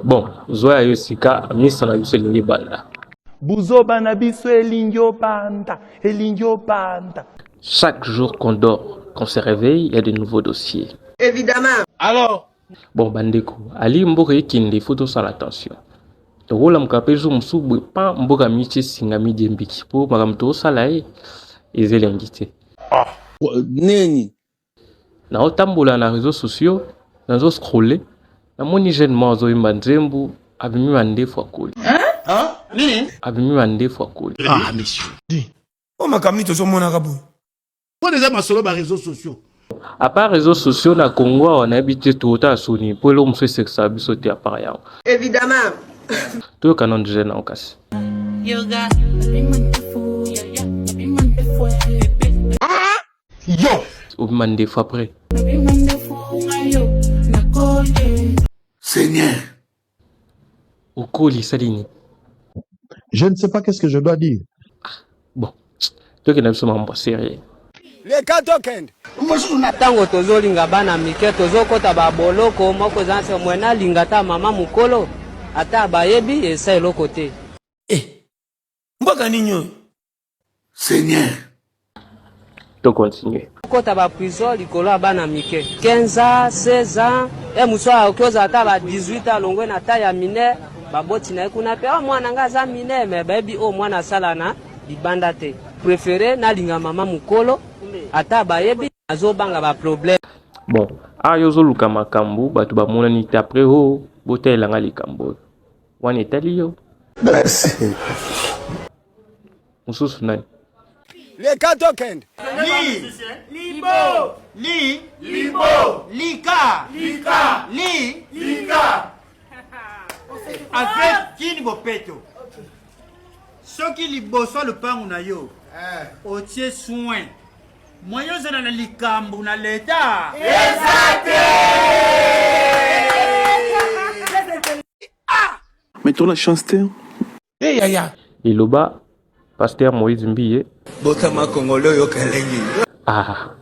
Bon, zwa ya yo sika, misa na biso elingi banda. Buzoba na biso elingi obanda, elingi obanda. Chaque jour qu'on dort, qu'on se réveille, il y a de nouveaux dossiers. Évidemment. Alors Bon, bandeko, ali mboka ekende, il faut tosala attention. tokolamuka mpe zo mosusu boye pa mboka mici esinga midie mbiki mpo makambo tokosala ye eza elengi te ah. nini Nao tambola na reseaux sociaux nazo scroller namoni jeune moko azoyemba nzembu abimi mandefu akoli abimi mandefu akoli ah monsieur o makambo nini tozomonaka boye mpo eza masolo ba réseaux sociaux à part réseaux sociaux na congo awa nayebi te tokotala soni mpo eloko mosusu esekisaka biso te à part yango évidemment toyoka nano jeune yango kasi yo obima ndefu après seigneur okoli salini je ne sais pas qu'est-ce que je dois dire ah, bon tokenda biso mambo serie leka tokende ntango tozolinga bana mike tozokɔta baboloko moko eza nse mwe nalinga ata mama mokolo ata bayebi esa eloko te eh, mboka nini oyo seigneur to continue kota ba prison likolo ya bana mike 15 ans 16 ans e mosusu akoki ozala ata ba 18 ans alongwe na ta ya mine baboti na ye kuna mpe oh, mwana ngai aza mine me bayebi oyo oh, mwana asala na libanda te prefere nalinga mama mokolo ata bayebi azobanga baproblème bon awa ah, yo ozoluka makambo bato bamonani te apres o oh, botalela ngai likambo oyo wana etali yo merci mususu nani leka tokende li libo li libo lika lika li lika avec kini bopeto soki liboso ya lopango na yo eh. otie soin moye ozala na likambo na leta eza te mais tola chance te Hey, yaya. Liloba Pasteur Moïse Mbiye. Botama Congolais oyo kalengi. Ah.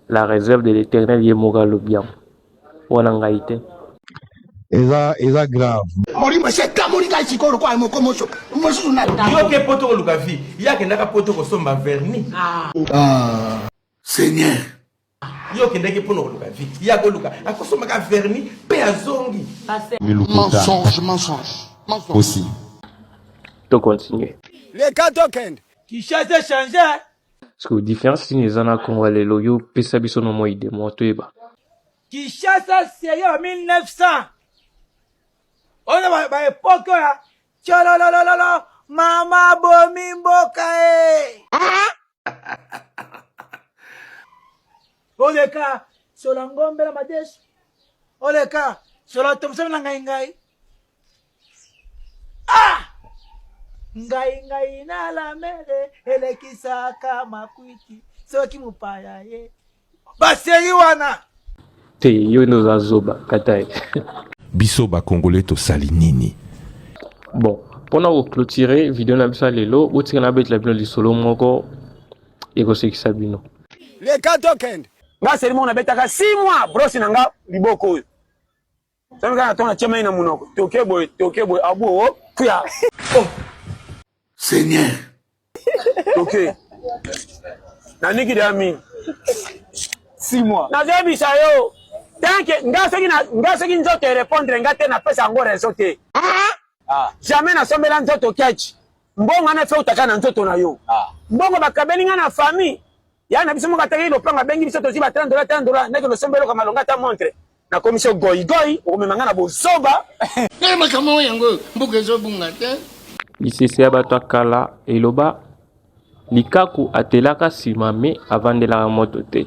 La réserve de l'éternel ye moka lobiam. Wana ngai te. Eza eza grave. Molimo se kamoli kai sikoyo kwa moko moso. Mosusu na. Yo ke poto koluka vie. Yake ndaka poto kosomba vernis. Ah. Ah. Seigneur. Yo kendaki mpo na koluka vie. Ye akoluka akosomaka verni mpe azongi. Mensonge, mensonge, mensonge. Aussi. To continuer. Leka tokende. Kinshasa echange. Parce que différence nini eza na Congo ya lelo yo pesa biso no moi de moi toyeba. Kinshasa seyo ya 1900 oyo ba epoque ya Tshololololo mama bomi mboka e. Oleka sola ngombe na madesu. Oleka sola tomsami na ngai ngai. Ah! Ngai ngai na lamele elekisaka makwiti soki mopaya ye. ba série wana te yo nde oza zoba katai biso ba congolais tosali nini bon mpona koclotire video na biso ya lelo botika nabetela bino lisolo moko ekosekisa bino leka tokende nga selimo nabetaka 6 mois brosi na nga liboko oyo Sasa kaka tona tia mai na munoko. Toke boy, toke boy. Abu o oh, kuya. Oh. Seigneur. Toke. Na niki de ami. 6 mois. Na zebi sa yo. Tanke nga soki na nga soki nzoto e répondre nga te na pesa ngo raison te. Ah. ah. Jamais na sombela nzoto catch. Mbongo na fe utaka na nzoto na yo. Ah. Mbongo bakabeli nga na famille. ya na biso moko ataki lopanga abengi biso tozwi ba 30 dola 30 dola ndeke losomba eloko malonga ata montre nakomisi yo goigoi okomema ngai na bozoba naye makambo oyo yango mboka ezobunga te lisese ya bato ya kala eloba likaku atelaka nsima me avandelaka moto te